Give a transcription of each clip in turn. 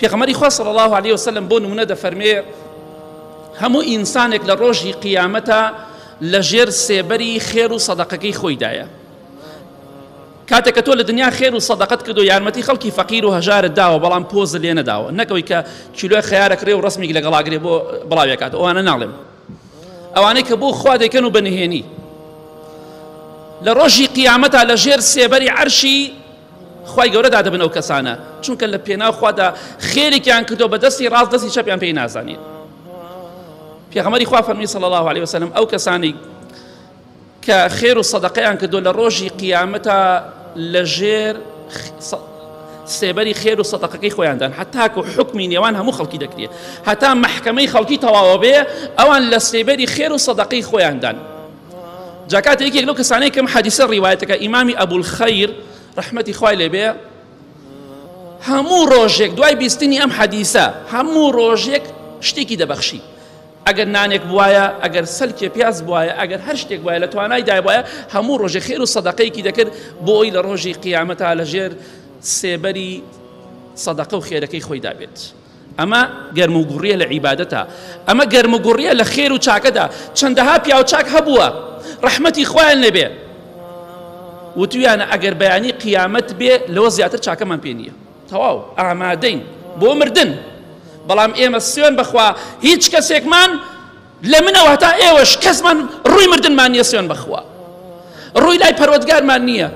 پێغەمەری خوا صلی الله علیه وسلم بۆ نمونە دەفەرمێ هەموو ئینسانێک لە ڕۆژی قیامەتە لە ژێر سێبەری خێر و سەدەقەکەی خۆیدایە کاتێک کە تۆ لە دنیا خێر و سەدەقەت کردو یارمەتی خەڵکی فەقیر و هەژارت داوە بەڵام پۆز لێ نەداوە نەکەوەی کە کیلۆی خیارەکرێ و ڕسمێک لەگەڵاگرێ بۆ بڵاوێکات ئەوانە ناڵێم ئەوانەی کە بۆ خوا دەکەن و بەنهێنی لە ڕۆژی قیامەتا لە ژێر سێبەری عەرشی خوای گەورە دادەبن ئەو کەسانە چونکە لە پێناو خوادا خێرێکیان کردو بە دەستی ڕاست دەستی چەپیان پێی نازانین پێغەمەری خوا فەرمی صلی الله عليه وسلم ئەو کەسانی کە خێر و سەدەقەیان کردو لە ڕۆژی قیامەتە لە ژێر سێبەری خێر و سەدەقەکەی خۆیاندان هەتاکو حکمی نێوان هەموو خەڵکی دەکرێت هەتا محکمەی خەڵکی تەواوە بێ ئەوان لە سێبەری خێر و سەدەقەی خۆیاندان جاکات یەکێک لەو کەسانەی کەم حەدیسە ڕیوایەتەکە ئیمامی ئەبولخەیر ڕەحمەتی خوای لێبێ هەموو ڕۆژێک دوای بیستنی ئەم حەدیسە هەموو ڕۆژێک شتێکی دەبەخشی ئەگەر نانێک بواە ئەگەر سەلکێ پیاز بواە ئەگەر هەر شتێک وایە لە توانای دایواە هەموو ڕۆژێ خێر و سەدەقەیەکی دەکرد بۆ ئەوی لە ڕۆژی قیامەتا لەژێر سێبەری سەدەقە و خێرەکەی خۆی دابێت. ئەمە گەرم و گوڕیە لە عیبادەتا ئەمە گەرم و گوڕیە لە خێر و چاکەدا چەندەها پیاو چاک هەبووە ڕەحمەتی خوایان لێبێ وتویانە ئەگەر بەیانی قیامەت بێ لەوە زیاتر چاکەمان پێ نییە تەواو ئامادەین بۆ مردن بەڵام ئێمە سوێن بخوا هیچ کەسێکمان لە منەوە هەتا ئێوەش کەسمان ڕووی مردنمان نییە سوێن بەخوا ڕووی لای پەرۆتگارمان نییە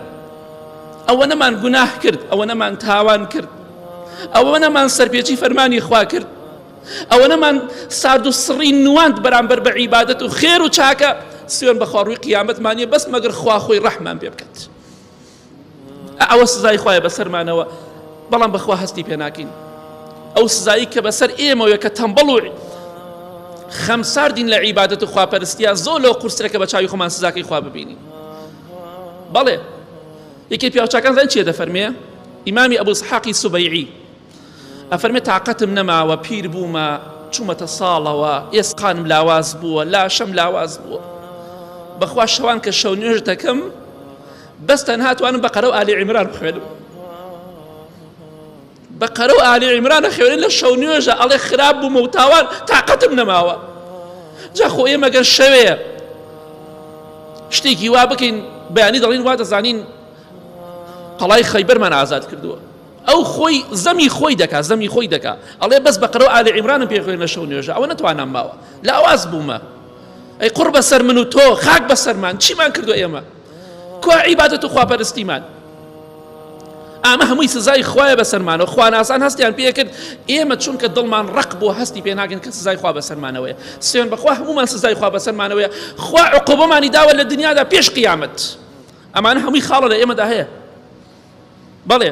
ئەوە نەمان گوناه کرد ئەوە نەمان تاوان کرد ئەوە نەمان سەرپێچی فەرمانی خوا کرد ئەوە نەمان سارد و سڕی نواند بەرامبەر بە عیبادەت و خێر و چاکە سوێن بەخوا ڕووی قیامەتمانە بەس مەگەر خوا خۆی ڕەحمان پێ بکات ئەوە سزای خوایە بەسەرمانەوە بەڵام بەخوا هەستی پێ ناکەین ئەو سزایی کە بەسەر ئێمەوە کە تەمبەڵ و خەم ساردین لە عیباەت و خواپەرستیا زۆر لەو قورسرەکە بە چاوی خۆمان سزاکەی خوا ببینین بەڵێ یەکێ پیاوچکان زان چێ دەفەرمێ ئیمامی ئەبوو سحاقی سوبەیعی ئەفەرمێ تاقەتم نەماوە پیر بوومە چوومەتە ساڵەوە ئێسقانم لاواز بووە لاشەم لاواز بووە بەخوا شەوان کە شەو نوێژ دەکەم بەس تەنهاتوانم بە قەرە و ئالی عیمران بخوێنم بە قەرە و ئالی عیمرانە خوێنن لە شەو نوێژە ئەڵێ خراپ بوومە و تاوان تااقەتم نەماوە جاخۆ ئێمەگەر شەوێ شتێکی وا بکەین بەیانی دەڵین وا دەزانین قەڵای خەیبەرمان ئازاد کردووە ئەو خۆی زەمی خۆی دەکا زەمی خۆی دەکا ئەڵێ بەس بەقەرەو ئالی عیمرانم پێ خوێنە شەو نوێژە ئەوە نەتوانام ماوە لاواز بوومە ئەی قوڕ بەسەر من و تۆ خاک بەسەرمان چیمان کردو ئێمە کوا عیبادەت و خواپەرستیمان ئامە هەمووی سزای خوایە بەسەرمانەوە خواناسان هەستیان پێکرد ئێمە چونکە دڵمان ڕق بۆ هەستی پێ ناگەن کە سزای خوا بەسەرمانەوەیە سوێن بەخوا هەمومان سزای خوا بەسەرمانەوەیە خوا عقوبەمانی داوە لە دنیادا پێش قیامەت ئەمانە هەمووی خاڵە لە ئێمەدا هەیە بەڵێ.